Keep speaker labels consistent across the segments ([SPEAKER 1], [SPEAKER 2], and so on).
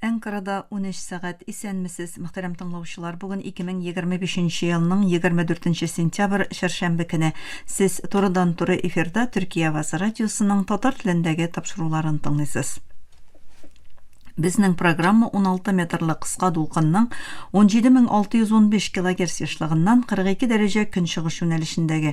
[SPEAKER 1] Әнкарада унөч сәгать. Исәнмесез, мөхтәрәм тыңлаучылар! Бүген 2025 нче елның 24 нче сентябрь, чәршәмбе көне. Сез турыдан-туры эфирда Төркия авазы радиосының татар телендәге тапшыруларын тыңлыйсыз. Безнең программа 16 метрлы кыска дулкынның 17615 килогерц ешлыгыннан 42 дәрәҗә көнчыгыш юнәлешендәге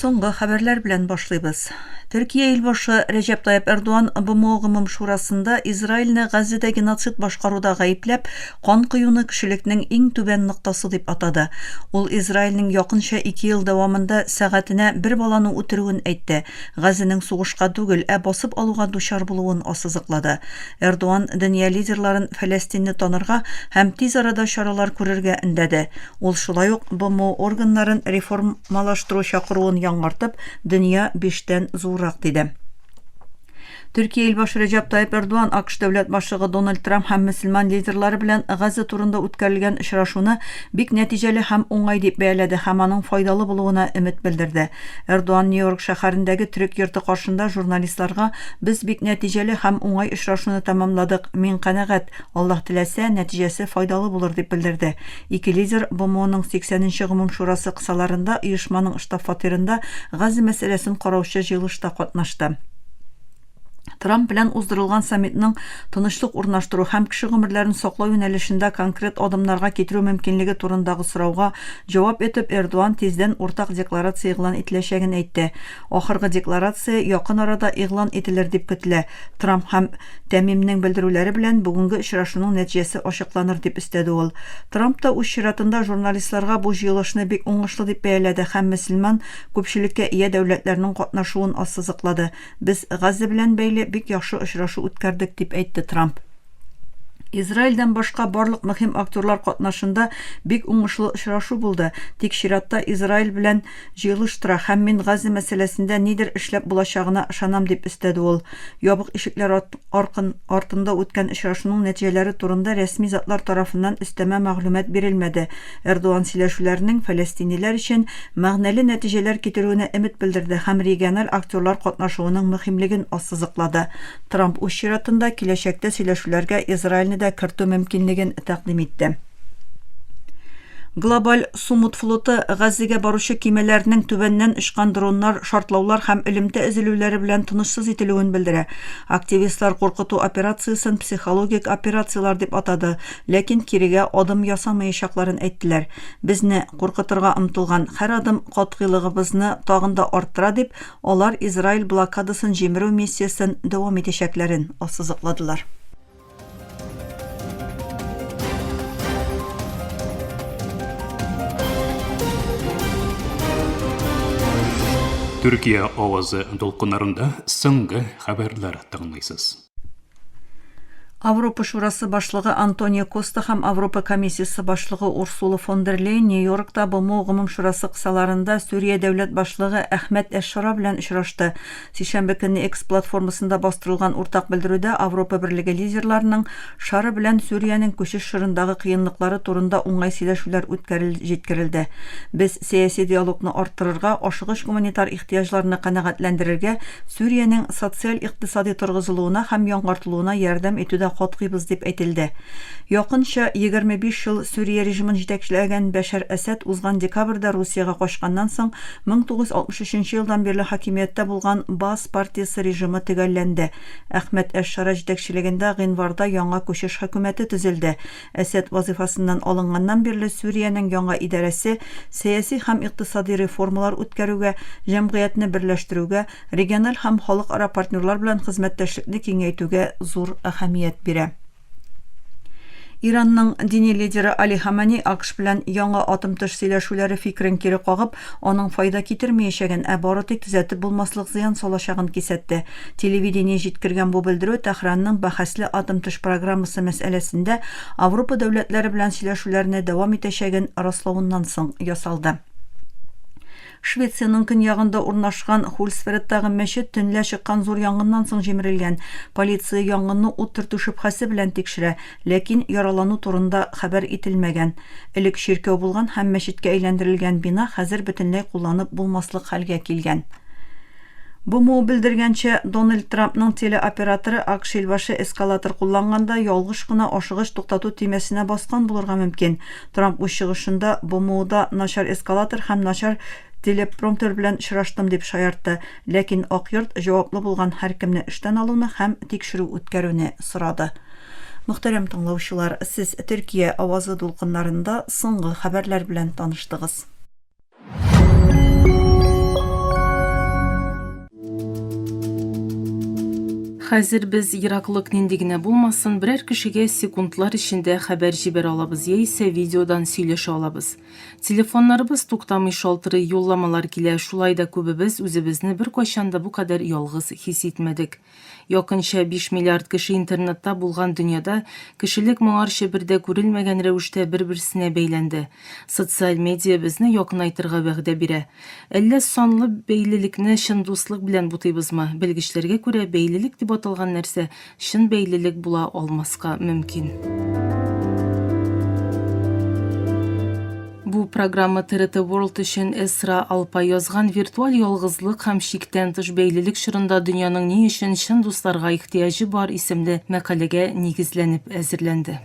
[SPEAKER 1] Соңгы хәбәрләр белән башлыйбыз. Төркия илбашы Рәҗәп Тайып Эрдуан БМО гомум шурасында Израильне Газзәдә геноцид башкаруда гаепләп, Кан коюны кешелекнең иң түбән ноктасы дип атады. Ул Израильнең якынча ике ел дәвамында сәгатенә бер баланы үтерүен әйтте, Газенең сугышка түгел, ә басып алуга дучар булуын ассызыклады. Эрдуан дөнья лидерларын Фәләстинне танырга һәм тиз арада чаралар күрергә өндәде. Ул шулай ук БМО органнарын реформалаштыру чакыруын яңартып, дөнья биштән зуррак, диде. Төркия илбашы Рәҗәп Тайип Эрдуан АКШ дәүләт башлыгы Дональд Трамп һәм мөселман лидерлары белән Газа турында үткәрелгән очрашуны бик нәтиҗәле һәм уңай дип бәяләде һәм аның файдалы булуына өмет белдерде. Эрдуан Нью-Йорк шәһәрендәге төрек йорты каршында журналистларга Без бик нәтиҗәле һәм уңай очрашуны тәмамладык, мин канәгать, Аллаһ теләсә, нәтиҗәсе файдалы булыр, дип белдерде. Ике лидер БМОның 80 нче гомум шурасы кысаларында оешманың штаб-фатирында Газа мәсьәләсен караучы җыелышта катнашты. Трамп белән уздырылган саммитның тынычлык урнаштыру һәм кеше гомерләрен саклау юнәлешендә конкрет адымнарга китерү мөмкинлеге турындагы сорауга җавап итеп, Эрдоан тиздән уртак декларация игълан ителәчәген әйтте. Ахыргы декларация якын арада игълан ителер дип көтелә. Трамп һәм Тәмимнең белдерүләре белән бүгенге очрашуның нәтиҗәсе ачыкланыр, дип өстәде ул. Трамп та үз чиратында журналистларга бу җыелышны бик уңышлы дип бәяләде һәм мөселман күпчелеккә ия дәүләтләрнең катнашуын ассызыклады. Без Газза белән бәйле бик яхшы очрашу үткәрдек, дип әйтте Трамп. Израильдән башка барлык мөһим актерлар катнашында бик уңышлы очрашу булды, тик чиратта Израиль белән җыелыштыра һәм мин Гази мәсьәләсендә нидер эшләп булачагына ышанам, дип өстәде ул. Ябык ишекләр аркын артында үткән очрашуның нәтиҗәләре турында рәсми затлар тарафыннан өстәмә мәгълүмат бирелмәде. Эрдоган сөйләшүләрнең фәләстиниләр өчен мәгънәле нәтиҗәләр китерүенә өмет белдерде һәм региональ актерлар катнашуының мөһимлеген ассызыклады. Трамп үз чиратында киләчәктә сөйләшүләргә Израильне дә кертү мөмкинлеген тәкъдим итте. Глобаль Сумут флоты Газзигә баручы кимәләрнең түбәннән очкан дроннар, шартлаулар һәм элемтә өзелүләре белән тынычсыз ителүен белдерә. Активистлар куркыту операциясен психологик операцияләр дип атады, ләкин кирегә адым ясамаячакларын әйттеләр. Безне куркытырга омтылган һәр адым катгыйлыгыбызны тагын да арттыра, дип, алар Израиль блокадасын җимерү миссиясен дәвам итәчәкләрен ассызыкладылар.
[SPEAKER 2] Төркия авазы дулкыннарында соңгы хәбәрләр тыңлыйсыз. Авропа
[SPEAKER 1] шурасы башлыгы Антонио Коста һәм Авропа комиссиясе башлыгы Урсула фон дер Лейн Нью-Йоркта БМО гомум шурасы кысаларында Сүрия дәүләт башлыгы Әхмәт Әшшора белән очрашты. Сишәмбе көнне X платформасында бастырылган уртак белдерүдә Авропа Берлеге лидерларының шары белән Сүриянең күчеш чорындагы кыенлыклары турында уңай сөйләшүләр үткәрел җиткерелде. Без сәяси диалогны арттырырга, ашыгыч гуманитар ихтыяҗларны канәгатьләндерергә, Сүриянең социаль-икътисади торгызылуына һәм яңартылуына ярдәм итүдә катгыйбыз, дип әйтелде. Якынча егерме биш ел Сүрия режимын җитәкчеләгән Бәшәр Әсәд узган декабрьдә Русиягә качканнан соң 1963 нче елдан бирле хакимияттә булган Баас партиясе режимы төгәлләнде. Әхмәт әш-Шара җитәкчелегендә гыйнварда яңа күчеш хөкүмәте төзелде. Әсәд вазыйфасыннан алынганнан бирле Сүриянең яңа идарәсе сәяси һәм икътисади реформалар үткәрүгә, җәмгыятьне берләштерүгә, региональ һәм халыкара партнерлар белән хезмәттәшлекне киңәйтүгә зур әһәмият бирә. Иранның дини лидеры Али Хамани АКШ белән яңа атым-тыш сөйләшүләре фикерен кире кагып, аның файда китермәячәген, ә бары тик төзәтеп булмаслык зыян салачагын кисәтте. Телевидение җиткергән бу белдерү Тәһранның бәхәсле атым-тыш программасы мәсьәләсендә Авропа дәүләтләре белән сөйләшүләрне дәвам итәчәген раславыннан соң ясалды. Швециянең көньягында урнашкан Хулсфредтагы мәчет төнлә чыккан зур янгыннан соң җимерелгән. Полиция янгынны ут төртү шөбһәсе белән тикшерә, ләкин яралану турында хәбәр ителмәгән. Элек чиркәү булган һәм мәчеткә әйләндерелгән бина хәзер бөтенләй кулланып булмаслык хәлгә килгән. БМО белдергәнчә, Дональд Трампның телеоператоры АКШ илбашы эскалатор кулланганда ялгыш кына ашыгыч туктату төймәсенә баскан булырга мөмкин. Трамп үз чыгышында БМОда начар эскалатор һәм начар телепромтер белән очраштым дип шаяртты, ләкин Ак йорт җаваплы булган һәркемне эштән алуны һәм тикшерү үткәрүне сорады. Мөхтәрәм тыңлаучылар, сез Төркия авазы дулкыннарында соңгы хәбәрләр белән таныштыгыз.
[SPEAKER 3] Хәзер без ераклык нинди генә булмасын, берәр кешегә секундлар эчендә хәбәр җибәрә алабыз яисә видеодан сөйләшә алабыз. Телефоннарыбыз туктамый шалтырый, юлламалар килә, шулай да күбебез үзебезне беркайчан да бу кадәр ялгыз хис итмәдек. Якынча 5 миллиард кеше интернетта булган дөньяда кешелек моңарчы бер дә күрелмәгән рәвештә бер-берсенә бәйләнде. Социаль медиа безне якынайтырга вәгъдә бирә. Әллә санлы бәйлелекне чын дуслык белән бутыйбызмы? Белгечләргә күрә, бәйлелек дип аталган нәрсә чын бәйлелек була алмаска мөмкин. Бу программа TRT World өчен Эсра Алпа язган виртуаль ялгызлык һәм чиктән тыш бәйлелек чорында дөньяның ни өчен чын дусларга ихтыяҗы бар исемле мәкаләгә нигезләнеп әзерләнде.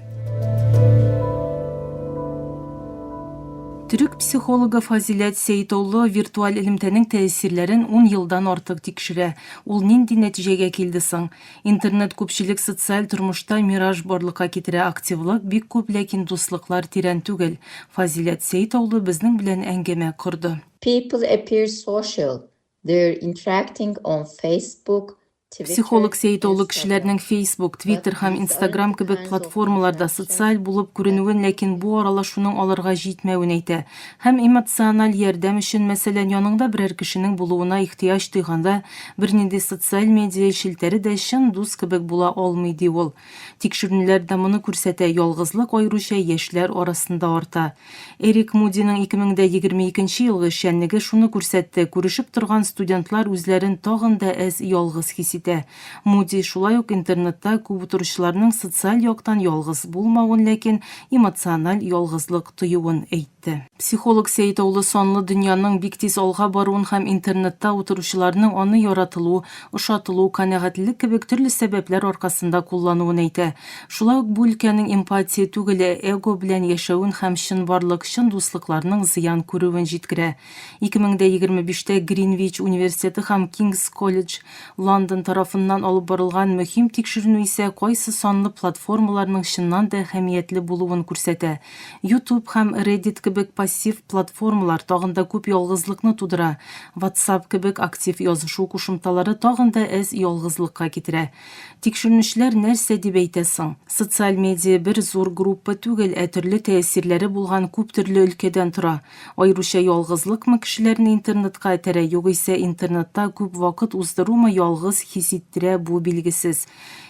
[SPEAKER 3] Төрек психологы Фазиләт Сәйтоулы виртуаль элемтәнең тәэсирләрен 10 елдан артык тикшерә. Ул нинди нәтиҗәгә килде соң? Интернет күпчелек социаль тормышта мираж барлыкка китерә активлык бик күп ләкин дуслыклар тирән түгел Фазиләт Сәетаулы безнең белән әңгәмә корды. People appear
[SPEAKER 4] social, they're interacting on Facebook, Twitter, Психолог
[SPEAKER 3] Сәетаулы кешеләрнең Facebook, Twitter һәм Instagram кебек платформаларда социаль булып күренүен ләкин бу аралашуның аларга җитмәвен әйтә. Һәм эмоциональ ярдәм өчен, мәсәлән, яныңда берәр кешенең булуына ихтыяҗ тойганда, бернинди социаль медиа челтәре дә чын дус кебек була алмый, ди ул. Тикшерүнләр дә моны күрсәтә, ялгызлык аеруча яшьләр арасында арта. Эрик Мудиның 2022 елгы эшчәнлеге шуны күрсәтте, күрешеп торган студентлар үзләрен тагын да әз ялгыз хис итә. Муди шулай ук интернетта күп утыручыларның социаль яктан ялгыз булмавын, ләкин эмоциональ ялгызлык тоюын әйтте. Психолог Сәет Аулы санлы дөньяның бик тиз алга баруын һәм интернетта утыручыларның аны яратылу, ошатылу, канәгатьлелек кебек төрле сәбәпләр аркасында куллануын әйтә. Шулай ук бу өлкәнең эмпатия түгел, ә эго белән яшәвен һәм чынбарлык, чын дуслыкларның зыян күрүен җиткерә. 2025тә Гринвич университеты һәм King's College London тарафыннан алып барылган мөһим тикшеренү исә кайсы санлы платформаларның чыннан да әһәмиятле булуын күрсәтә. YouTube һәм Reddit кебек пассив платформалар тагын да күп ялгызлыкны тудыра, WhatsApp кебек актив язышу кушымталары тагын да әз ялгызлыкка китерә. Тикшеренүчеләр нәрсә дип әйтә соң? Социаль медиа бер зур группа түгел, ә төрле тәэсирләре булган күптөрле өлкәдән тора. Аеруча ялгызлыкмы кешеләрне интернетка этәрә, югыйсә интернетта күп вакыт уздырумы ялгыз хис иттерә, бу билгесез.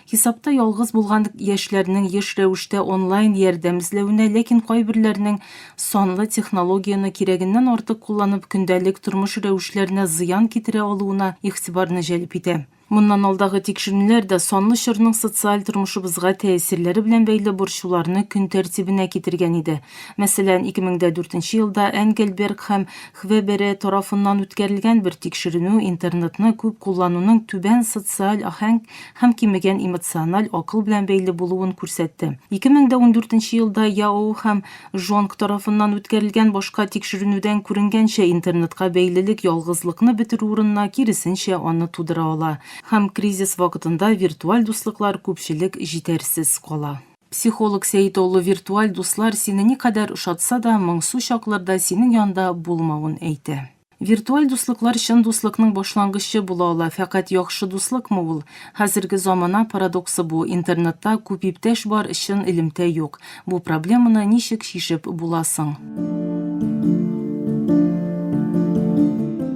[SPEAKER 3] Хисапта ялгыз булган яшьләрнең еш рәвештә онлайн ярдәм эзләвенә, ләкин кайберләрнең санлы технологияне кирәгеннән артык кулланып, көндәлек тормыш рәвешләренә зыян китерә алуына игътибарны җәлеп итә. Моннан алдагы тикшеренүләр дә санлы чорның социаль тормышыбызга тәэсирләре белән бәйле борчуларны көн тәртибенә китергән иде. Мәсәлән, 2004 елда Энгельберг һәм Хвебере тарафыннан үткәрелгән бер тикшеренү интернетны күп куллануның түбән социаль аһәң һәм кимегән эмоциональ акыл белән бәйле булуын күрсәтте. 2014 елда Яоу һәм Жонг тарафыннан үткәрелгән башка тикшеренүдән күренгәнчә, интернетка бәйлелек ялгызлыкны бетерү урынына, киресенчә, аны тудыра ала. Һәм кризис вакытында виртуаль дуслыклар күпчелек җитәрсез кала. Психолог Сәет Олы виртуаль дуслар сине никадәр ошатса да, моңсу чакларда синең янда булмавын әйтә. Виртуаль дуслыклар чын дуслыкның башлангычы була ала, фәкать яхшы дуслыкмы ул? Хәзерге замана парадоксы бу, интернетта күп иптәш бар, чын элемтә юк. Бу проблеманы ничек чишеп була соң?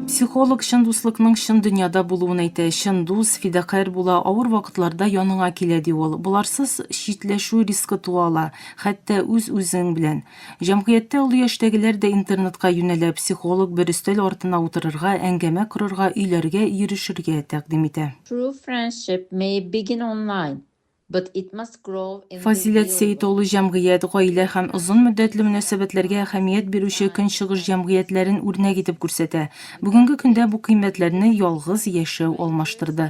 [SPEAKER 3] Психолог чын дуслыкның чын дөньяда булуын әйтә, чын дус, фидакарь була, авыр вакытларда яныңа килә, ди ул. Боларсыз читләшү рискы туа ала, хәтта үз-үзең белән. Җәмгыятьтә олы яшьтәгеләр дә интернетка юнәлә, психолог бер өстәл артына утырырга, әңгәмә корырга, өйләргә йөрешергә тәкъдим итә. True friendship
[SPEAKER 4] may begin online, but it must grow in the Фазиләт real Сәет улы world.
[SPEAKER 3] җәмгыять, гаилә һәм озын мөддәтле мөнәсәбәтләргә әһәмият бирүче көнчыгыш җәмгыятьләрен үрнәк итеп күрсәтә. Бүгенге көндә бу кыйммәтләрне ялгыз яшәү алмаштырды.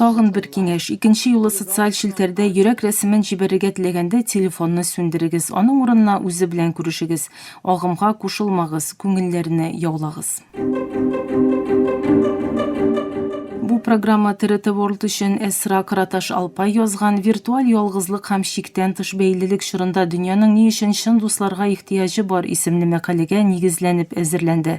[SPEAKER 4] Тагын бер киңәш,
[SPEAKER 3] икенче юлы социаль челтәрдә йөрәк рәсемен җибәрергә теләгәндә, телефонны сүндерегез, аның урынына үзе белән күрешегез. Агымга кушылмагыз, күңелләрне яулагыз. Бу программа TRT World өчен Эсра Караташ Алпай язган Виртуаль ялгызлык һәм чиктән тыш бәйлелек чорында дөньяның ни өчен чын дусларга ихтыяҗы бар исемле мәкаләгә нигезләнеп әзерләнде.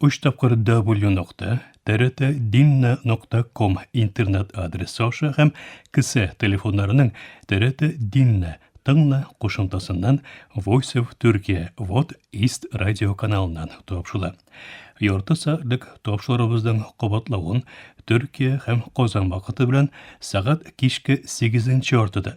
[SPEAKER 2] Өч тапкыр W нокта, TRT Dinna нокта ком интернет адресы аша һәм кесә телефоннарының TRT Dinna тыңна кушымтасыннан Voice of Turkey Вот East радио каналыннан тапшыла. Ярты сәгатьлек тапшырыбызның кабатлавын Төркия һәм Казан вакыты белән сәгать кичке 8 яртыда